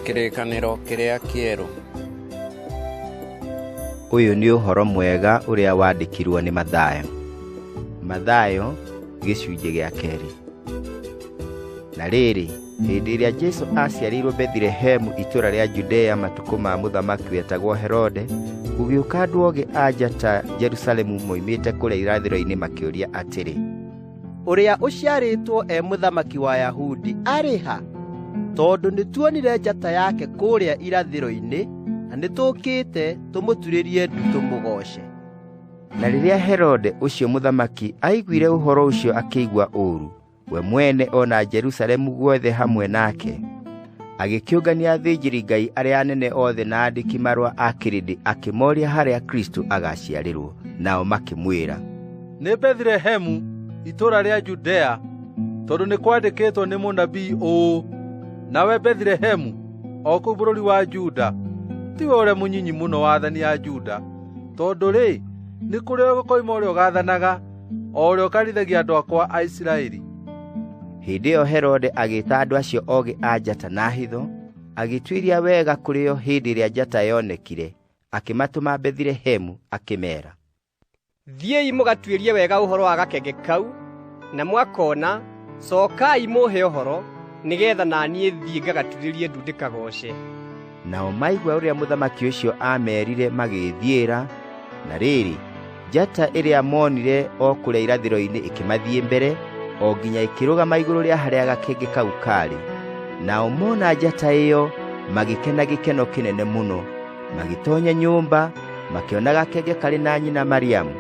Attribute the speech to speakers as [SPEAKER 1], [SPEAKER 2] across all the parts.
[SPEAKER 1] Kĩrĩkanĩro kĩrĩa kĩerũ.
[SPEAKER 2] Ũyũ nĩ ũhoro mwega ũrĩa wandĩkirwo nĩ Mathayo. Mathayo gĩcunjĩ gĩa kerĩ. Na rĩrĩ, hĩndĩ ĩrĩa Jesu aaciarĩirwo Bethilehemu itũũra rĩa Judea matukũ ma mũthamaki wetagwo Herode, gũgĩũka andũ ogĩ a njata Jerusalemu moimĩte kũrĩa irathĩro-inĩ makĩũria atĩrĩ, ũrĩa
[SPEAKER 3] ũciarĩtwo e mũthamaki wa Yahudi arĩ ha? Tondũ nĩtuonire njata yake kũrĩa irathĩro-inĩ na nĩtũkĩte tũmũturĩrie ndu tũmũgooce. Na
[SPEAKER 2] rĩrĩa Herode ũcio mũthamaki aiguire ũhoro ũcio akĩigua ũũru, we mwene o na Jerusalemu guothe hamwe nake. agĩkĩũngania athĩnjĩri ngai arĩa anene othe na andĩki marũa a kĩrĩndĩ akĩmoria harĩa kristo agaciarĩrwo nao makĩmwĩra nĩ
[SPEAKER 4] Bethlehemu itũũra rĩa Judea tondũ nĩ kwandĩkĩtwo nĩ mũnabii ũũ nawe Bethlehemu o kũu bũrũri wa Juda tiwe ũrĩa mũnyinyi mũno wa athani a Juda tondũ-rĩ nĩ kũrĩ o gũkoima ũrĩa ũgathanaga o ũrĩa ũkarithagia andũ akwa a Isiraeli. Hĩndĩ
[SPEAKER 2] ĩyo Herode agĩĩta andũ acio ogĩ a njata na hitho, agĩtuĩria wega kũrĩ o hĩndĩ ĩrĩa njata yonekire, akĩmatũma Bethilehemu akĩmeera.
[SPEAKER 5] Thiĩi mũgatuĩrie wega ũhoro wa gakenge kau, na mwakona cokai mũhe ũhoro, nĩgeetha na niĩ thiĩ ngagaturĩrie ndu ndĩkagooce. nao
[SPEAKER 2] maigua ũrĩa mũthamaki ũcio aameerire magĩĩthiĩra na rĩrĩ njata ĩrĩa moonire o kũrĩa irathĩro-inĩ ĩkĩmathiĩ mbere o nginya ĩkĩrũgama igũrũ rĩa harĩa gakenge kau kaarĩ nao mona njata ĩyo magĩkena gĩkeno kĩnene mũno magĩtonya nyũmba makĩona gakenge karĩ na nyina mariamu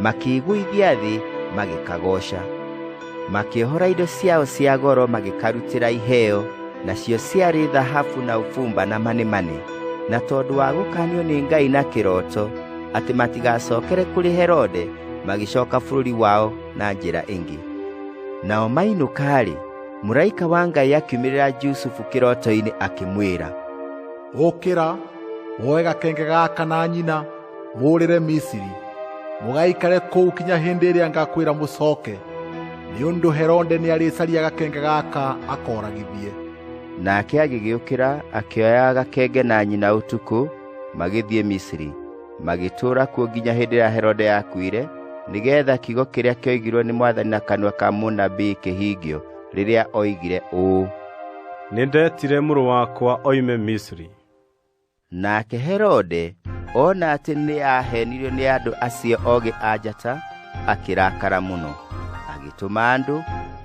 [SPEAKER 2] makĩĩgũithia thĩ magĩkagooca makĩohora indo ciao cia goro magĩkarutĩra iheo nacio ciarĩ thahabu na ũbumba na manemane na tondũ wa gũkanio nĩ ngai na kĩroto atĩ matigacokere kũrĩ herode magĩcoka bũrũri wao na njĩra ĩngĩ nao mainũka-rĩ mũraika wa ngai akiumĩrĩra jusufu kĩroto-inĩ akĩmwĩra ũkĩra
[SPEAKER 6] woe gakenge gaka na nyina mũũrĩre misiri mũgaikare kũu kinya hĩndĩ ĩrĩa ngakwĩra mũcooke nĩ ũndũ herode nĩarĩcaria gakenge gaka akoragithie nake
[SPEAKER 2] agĩgĩũkĩra akĩoya gakenge na nyina ũtukũ magĩthiĩ misiri magĩtũũra kuo nginya hĩndĩ ĩrĩa herode yakuire nĩgeetha kiugo kĩrĩa kĩoigirwo nĩ mwathani na kanua ka mũnabii kĩhingio rĩrĩa oigire ũũ nĩndetire
[SPEAKER 7] mũrũ wakwa oime misiri
[SPEAKER 2] nake herode ona atĩ nĩ aahenirio nĩ andũ acio ogĩ a njata akĩrakara mũno agĩtũma andũ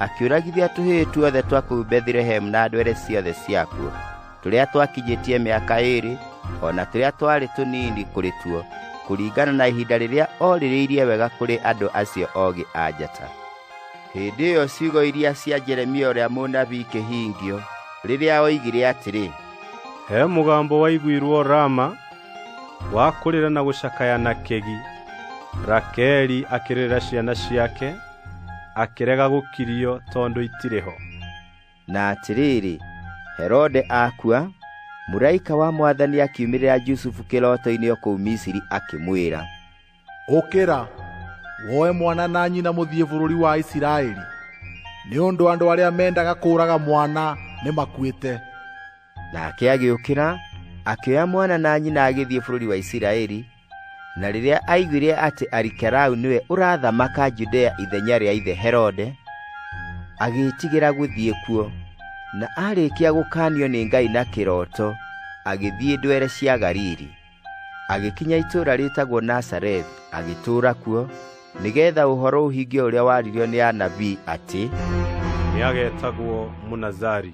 [SPEAKER 2] akĩũragithia tũhĩĩ tuothe twa kũu bethilehemu na ndwere ciothe ciakuo tũrĩa twakinyĩtie mĩaka ĩĩrĩ o na tũrĩa twarĩ tũnini kũrĩ tuo kũringana na ihinda rĩrĩa orĩrĩirie wega kũrĩ andũ acio ogĩ a njata hĩndĩ ĩyo ciugo iria cia jeremia ũrĩa mũnabii ikĩhingio rĩrĩa oigire atĩrĩ he
[SPEAKER 7] mũgambo waiguirwo rama wa kũrĩra na gũcakaya na kegi rakeli akĩrĩra ciana ciake akĩrega gũkirio tondũ itirĩ ho na
[SPEAKER 2] atĩrĩrĩ herode akua mũraika wa mwathani akiumĩrĩra jusufu kĩroto-inĩ o kũu misiri akĩmwĩra ũkĩra
[SPEAKER 6] woe mwana na nyina mũthiĩ bũrũri wa isiraeli nĩ ũndũ andũ arĩa mendaga kũũraga mwana nĩ makuĩte nake
[SPEAKER 2] agĩũkĩra akĩoya mwana na nyina agĩthiĩ bũrũri wa isiraeli na rĩrĩa aiguire atĩ arikerau nĩwe ũrathamaka judea ithenya rĩa ithe herode agĩĩtigĩra gũthiĩ kuo na aarĩkia gũkaanio nĩ ngai na kĩroto agĩthiĩ ndwere cia galili agĩkinya itũũra rĩtagwo nasarethi agĩtũũra kuo nĩgeetha ũhoro ũhinge ũrĩa waririo nĩ anabii
[SPEAKER 7] atĩ
[SPEAKER 2] nĩagetagwo mũnazari